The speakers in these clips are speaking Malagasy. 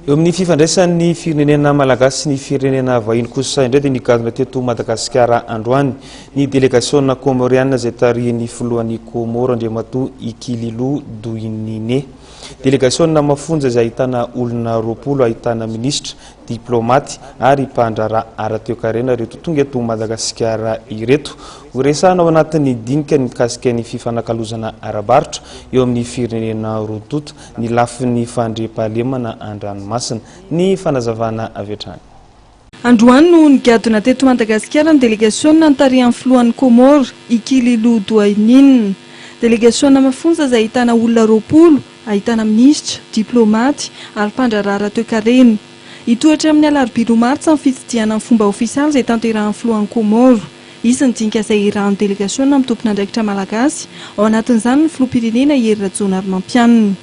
Eo amin'ny fifandraisan'ny firenena malagasy sy ny firenena vahiny kosa indray dia nigadona teto Madagasikara androany ny delegasiona kômôriana izay tarihin'ny filohan'ny Kômôro Andriamatoa Ikililo Doinine. Delegasiona mafonja izay ahitana olona roapolo ahitana minisitra, diplômaty ary mpandraharaha ara-toekarena ireto tonga eto Madagasikara ireto. Horesahana ao anatin'ny dinika ny mikasika ny fifanakalozana ara-barotra eo amin'ny firenena roa tonta. ny lafiny fandriampahalemana an-dranomasina. Ny fanazavana avy hatrany. Androany no nigadona teto Madagasikara ny delegasiona nitarihan'ny filohan'ny Comores, i Kililou Douaynine. Delegasiona mafonja izay ahitana olona roapolo, ahitana minisitra, diplaomaty ary mpandraharaha raha toekarena. Hitohy hatramin'ny alarobia roa martsa ny fitsidihana amin'ny fomba ofisialy izay tanterahin'ny filohan'ny Comores. Izy ny dinika izay iarahan'ny delegasiona amin'ny tompon'andraikitra malagasy, ao anatin'izany ny filoham-pirenena Hery Rajaonarimampianina.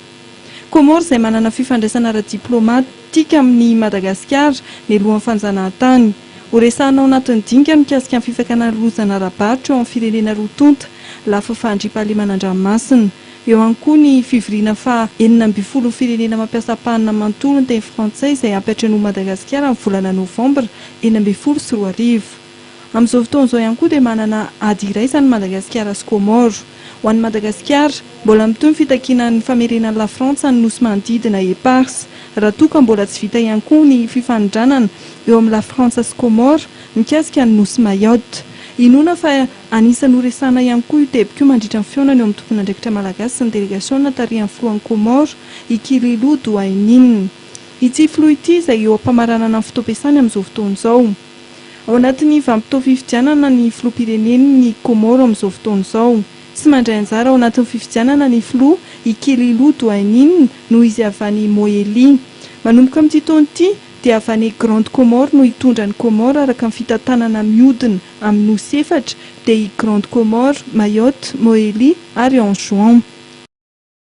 Comores izay manana fifandraisana ara-diplaomatika amin'i Madagasikara, nialohan'ny fanjanahantany. Horesahana ao anatin'ny dinika ny mikasika ny fifakana ny lozana ara-barotra eo amin'ny firenena roa tonta, lafiny fahandriampahalemana an-dranomasina. Eo ihany koa ny fivoriana faha enina ambin'ny folo ny firenena mampiasa ampahana manontolo ny teny frantsay izay hampiantrenoin'i Madagasikara amin'ny volana novambra enina ambin'ny folo sy roa arivo. Amin'izao fotoana izao ihany koa dia manana ady iraisany Madagasikara sy Comores. Ho an'i Madagasikara, mbola mitohy ny fitakiana ny famerenan'i Lafrantsa ny nosy manodidina Eparses. Raha toa ka mbola tsy vita ihany koa ny fifanindranana eo amin'i Lafrantsa sy Comores mikasika ny nosy Mayotte. Inoana fa anisan'ny ho resahana ihany koa io teboka io mandritra ny fihaonana eo amin'ny tompon'andraikitra malagasy sy ny delegasiona tarihan'ny filohan'i Comores, i Kililu Douainine. Ity filoha ity izay eo am-pamaranana ny fotoam-piasany amin'izao fotoana izao. Ao anatin'ny vanim-potoam-pifidianana ny filoham-pirenen'ny Kômôro amin'izao fotoana izao. Tsy mandray anjara ao anatin'ny fifidianana ny filoha, i Kelilu Douainin, noho izy avy any Mohéli. Manomboka amin'ity taona ity, dia avy any Grande Comore no hitondra an'i Kômôro araka ny fitantanana mihodina amin'ny nosy efatra, dia i Grande Comore, Mayotte, Mohéli ary Anjouan.